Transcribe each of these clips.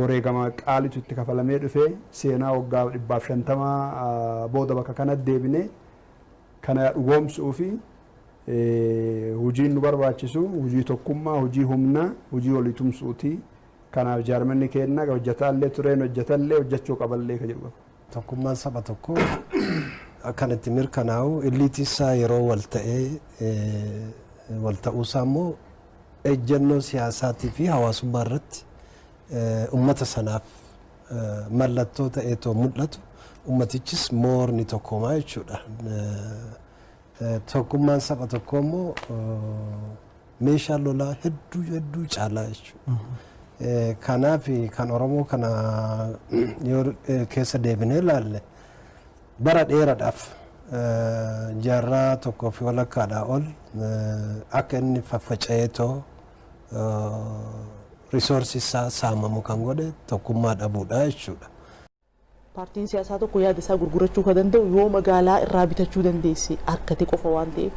Wareegama qaalitu itti kafalamee dhufe. Seenaa waggaa 150 booda bakka kanatti deebinee kana dhugoomsuufi hojiin nu barbaachisu hojii tokkummaa, hojii humnaa, hojii walii tumsuuti. Kanaaf jaarmanni keenna hojjataa illee tureen hojjatallee hojjachuu qaballee ka jedhu qaba. Tokkummaan saba tokkoo kan itti mirkanaa'u illiitii isaa yeroo wal ta'ee wal ta'uu isaa immoo ejjennoo siyaasaatii fi hawaasummaa irratti uummata sanaaf mallattoo ta'eetoo mul'atu uummatichis moorni tokkoomaa jechuudha. Tokkummaan saba tokkoo immoo meeshaa lolaa hedduu hedduu caalaa jechuudha. Kanaaf kan Oromoo kana yoo keessa deebinee ilaalle bara dheeraadhaaf jaarraa tokkoo fi walakkaadhaa ol akka inni faffaca'ee too risoorsii isaa saamamu kan godhe tokkummaa dhabuudha jechuudha. Paartiin siyaasaa tokko yaada isaa gurgurachuu kan danda'u yoo magaalaa irraa bitachuu dandeesse argate qofa waan ta'eef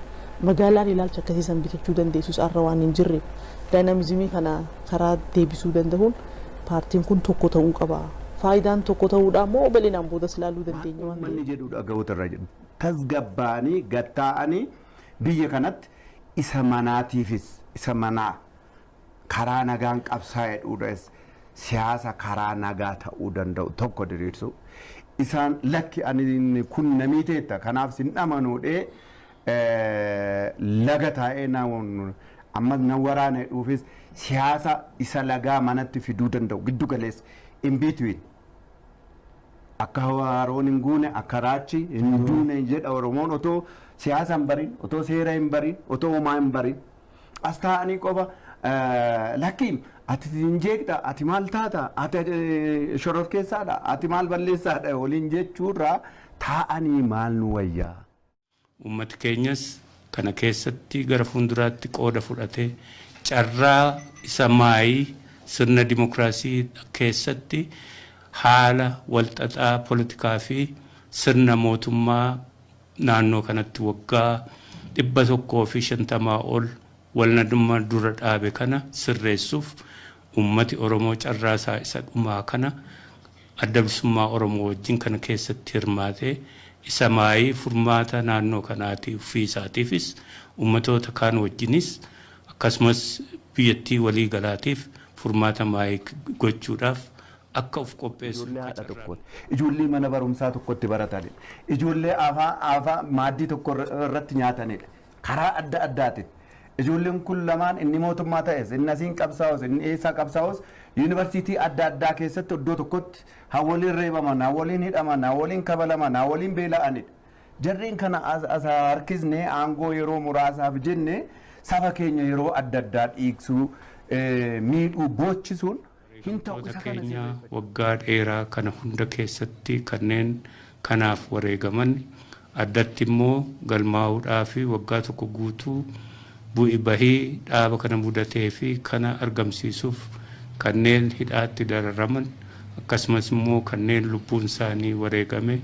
magaalaan ilaalcha akkasii san bitachuu dandeessus arra waan hin jirreef daayinaamizimii kana karaa deebisuu dandahuun paartiin kun tokko ta'uu qaba. Faayidaan tokko ta'uudhaa immoo bal'inaan boodas ilaaluu Waan dandeenya waan uummanni ta'eef. jedhu dhagahoota irraa jedhu tasgabbaa'anii gattaa'anii biyya kanatti isa manaatiifis isa manaa karaa nagaan qabsaa'e dhuudhas siyaasa karaa nagaa ta'uu danda'u tokko diriirsuu isaan lakki ani inni kun na miiteetta kanaaf sin dhamanuudhee laga taa'ee na ammas na waraana jedhuufis siyaasa isa lagaa manatti fiduu danda'u giddu galeessa in between akka haroon hin guune akka raachi hin duune jedha oromoon otoo siyaasa hin barin otoo seera hin barin otoo homaa hin barin As taa'anii qofa lakki ati hin jeeqxa, ati maal taata, ati shororkeessaadha, ati maal balleessaadha waliin jechuurraa taa'anii maal nu wayyaa? Uummati keenyas kana keessatti gara fuulduraatti qooda fudhatee carraa isa maayii sirna dimokiraasii keessatti haala walxaxaa politikaa fi sirna mootummaa naannoo kanatti waggaa 150 ol walnadumma dura dhaabe kana sirreessuf ummati Oromoo carraa isaa isa dhumaa kana Adda Bilisummaa Oromoo wajjin kana keessatti hirmaate isa maayii furmaata naannoo kanaatii uffii isaatiifis ummatoota kaan wajjinis akkasumas biyyattii walii galaatiif furmaata maayii gochuudhaaf akka of qopheessan ijoollee haadha qacarraan. tokkooti, ijoollee mana barumsaa tokkotti baratanidha, ijoollee afaa afaa maaddii tokko irra- irratti nyaatanidha. Karaa adda addaatiin ijoolleen kun lamaan inni mootummaa ta'es, inni asiin qabsaa'us, inni eessaa qabsaa'us yuunivarsiitii adda addaa keessatti iddoo tokkotti haa waliin reebaman, haa waliin hidhaman, haa waliin kabalaman, haa waliin beela'anidha. Jarreen kana as as haa harkisnee aangoo yeroo muraasaaf jennee saba keenya yeroo adda addaa dhiigsuu, eh, miidhuu, boochisuun Wareegamtoota keenya waggaa dheeraa kana hunda keessatti kanneen kanaaf wareegaman, addatti immoo galmaa'uudhaafi waggaa tokko guutuu bu'i bahii dhaaba kana mudateefi kana argamsiisuuf kanneen hidhaatti dararaman akkasumas immoo kanneen lubbuun isaanii wareegame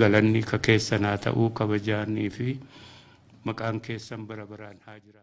galanni ka keessan haa ta'u kabajaaniifi maqaan keessan bara baraan haa jiraatu.